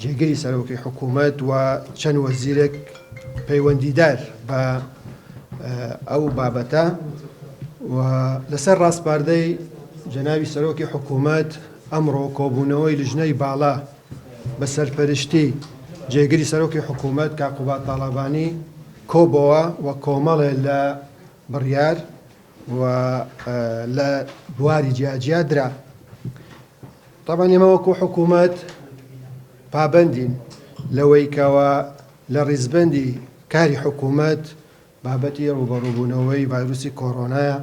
جێگری سەرۆکی حکوومەت و چەند وەزیرێک پەیوەندیدار بە ئەو بابەتە و لەسەر ڕاسپاردەی جەناوی سەرۆکی حکوومەت ئەمڕۆ کۆبوونەوەی لژنەی باڵا بە سەرپەرشتی جێگری سەرۆکی حکوومەت کاقوبا تاڵابانی کۆبەوە و کۆمەڵێ لە بڕیار و لە بواری جیاجیا درا تابان ئێمە وەکو حکوومەت پابەندین لەوەی کەوا لە ڕیزبەندی کاری حکوومەت بابەتی ڕوبەڕوبوونەوەی ڤایرۆسی کۆرۆنایە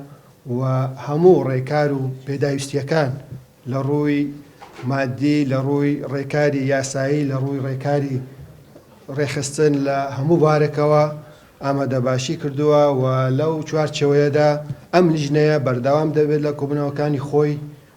و هەموو ڕێکار و پێداویستیەکان لە ڕووی مادی لە ڕووی ڕێکاری یاسایی لە ڕووی ڕێکاری ڕێخستن لە هەموو بارەکەوە ئامادە باشی کردووە و لەو چوارچەوەیەدا ئەم لیژنەیە بەردەوام دەبێت لە کۆبنەوەکانی خۆی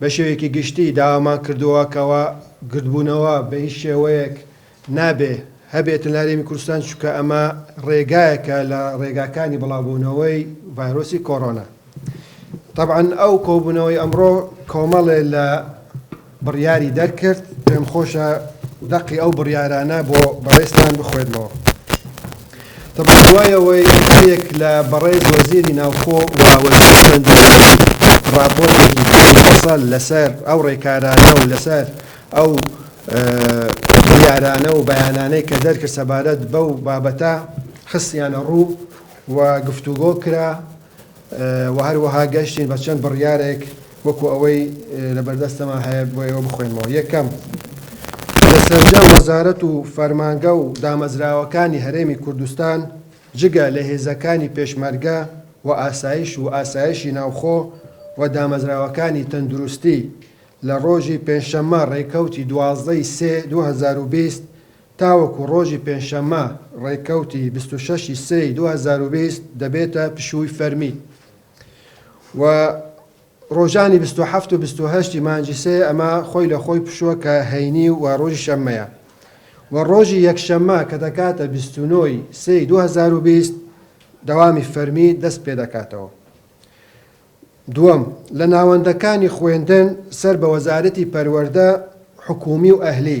بە شێوەیەکی گشتی داوامان کردووە کەوا گردبوونەوە بە هیچ شێوەیەک نابێ هەبێتن لە هەرێمی کوردستان، چونکە ئەمە ڕێگایەکە لە ڕێگاکانی بڵاوبوونەوەی ڤایرۆسی کۆرۆنا. تەبعەن ئەو کۆبوونەوەی ئەمڕۆ کۆمەڵێ لە بڕیاری دەرکرد، پێمخۆشە دەقی ئەو بڕیارانە بۆ بەڕێزتان بخوێنمەوە. دەبڕێت دوای ئەوەی هەریەک لە بەڕێز وەزیری ناوخۆ و وەزیری خوێندنی ڕاپۆرتێکی پڕ مەفەسەل لەسەر ئەو ڕێکارانە و لەسەر ئەو بریارانە و بەیانانەی کە دەرکرد سەبارەت بەو بابەتە خستیانە ڕوو و گفتوگۆ کرا و هەروەها گەشتین بە چەند بڕیارێک وەکو ئەوەی لەبەردەستەمان هەیە بۆ ئێوە بخوێنمەوە. یەکەم، لە سەرجەم وەزارەت و فەرمانگە و دامەزراوەکانی هەرێمی کوردستان جگە لە هێزەکانی پێشمەرگە و ئاسایش و ئاسایشی ناوخۆ و دامەزراوەکانی تەندروستی لە ڕۆژی پێنجشەممە ڕێکەوتی دوازدە ی سێ دوو هەزار و بیست تاوەکو ڕۆژی پێنجشەممە ڕێککەوتی بیست و شەش ی سێی دوو هەزار و بیست دەبێتە پشووی فەرمی و ڕۆژانی بیست و حەفت و بیست و هەشت ی مانگی سێ ئەمە خۆی لە خۆی پشووە کە هەینی و ڕۆژی شەممەیە و ڕۆژی یەکشەممە کە دەکاتە بیست و نۆ ی سێی دوو هەزار و بیست دەوامی فەرمی دەست پێ دەکاتەوە. دووەم، لە ناوەندەکانی خوێندن سەر بە وەزارەتی پەروەردە حکوومی و ئەهلی،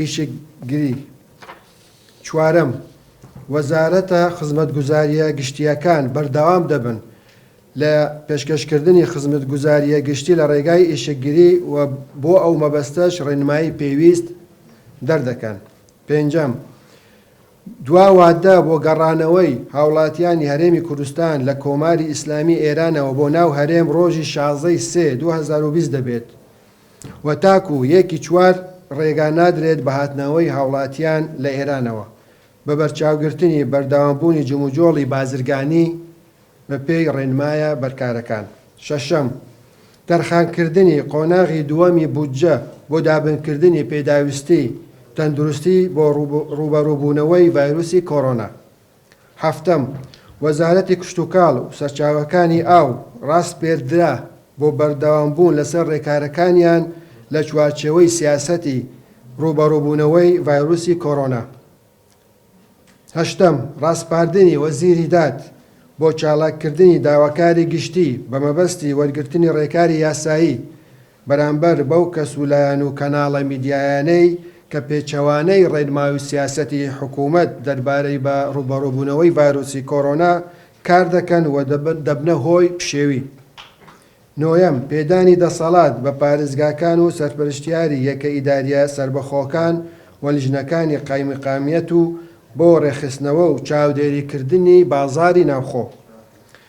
ئیشکگری چوارەم، وەزارەتە خزمەتگوزارییە گشتییەکان بەردەوام دەبن لە پێشکەشکردنی خزمەتگوزارییە گشتی لە ڕێگای ئیشکگری و بۆ ئەو مەبەستەش ڕێنمایی پێویست دەردەکەن. پێنجەم، دوا وادە بۆ گەڕانەوەی هاوڵاتیانی هەرێمی کوردستان لە کۆماری ئیسلامی ئێرانەوە بۆ ناو هەرێم ڕۆژی شازدە ی سێ دوو هەزار و بیست دەبێت. و تاکو یەکی چوار ڕێگا نادرێت بە هاتنەوەی هاوڵاتیان لە ئێرانەوە، بە بەرچاوگرتنی بەردەوامبوونی جموجۆڵی بازرگانی بە پێی ڕێنمایە بەرکارەکان. شەشەم، تەرخانکردنی قۆناغی دووەمی بودجە بۆ دابینکردنی پێداویستیی تەندروستی بۆ ڕووبەڕووبوونەوەی ڤایرۆسی کۆرۆنا. هەفتەم، وەزارەتی کشتوکاڵ و سەرچاوەکانی ئاو ڕاسپێردرا بۆ بەردەوامبوون لەسەر ڕێکارەکانیان لە چوارچێوەی سیاسەتی ڕووبەڕووبوونەوەی ڤایرۆسی کۆرۆنا. هەشتەم، ڕاسپاردنی وەزیری داد بۆ چالاککردنی داواکاری گشتی بەمەبەستی وەرگرتنی ڕێکاری یاسایی، بەرامبەر بەو کەس و لایەن و کەناڵە میدیایانەی کە پێچەوانەی ڕێنمای و سیاسەتی حکوومەت دەربارەی بە ڕووبەڕووبوونەوەی ڤایرۆسی کۆرۆنا کار دەکەن و دەبنە هۆی پشێوی. نۆیەم، پێدانی دەسەڵات بە پارێزگاکان و سەرپەرشتیاری یەکە ئیدارییە سەربەخۆکان و لیژنەکانی قایمقامیەت و بۆ ڕێکخستنەوە و چاودێریکردنی بازاڕی ناوخۆ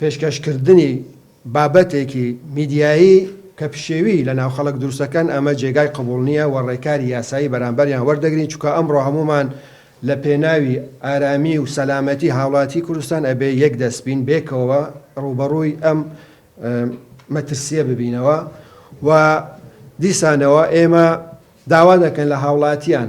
پێشکەشکردنی بابەتێکی میدیایی کە پشێوی لە ناو خەڵک دروستەکەن ئەمە جێگای قبوڵ نییە وە ڕێکاری یاسایی بەرامبەریان وەردەگرین چونکە ئەمڕۆ هەموومان لە پێناوی ئارامی و سەلامەتی هاوڵاتی کوردستان ئەبێ یەک دەست بین بێکەوە ڕووبەڕووی ئەم مەترسییە ببینەوە وە دیسانەوە ئێمە داوا دەکەن لە هاوڵاتیان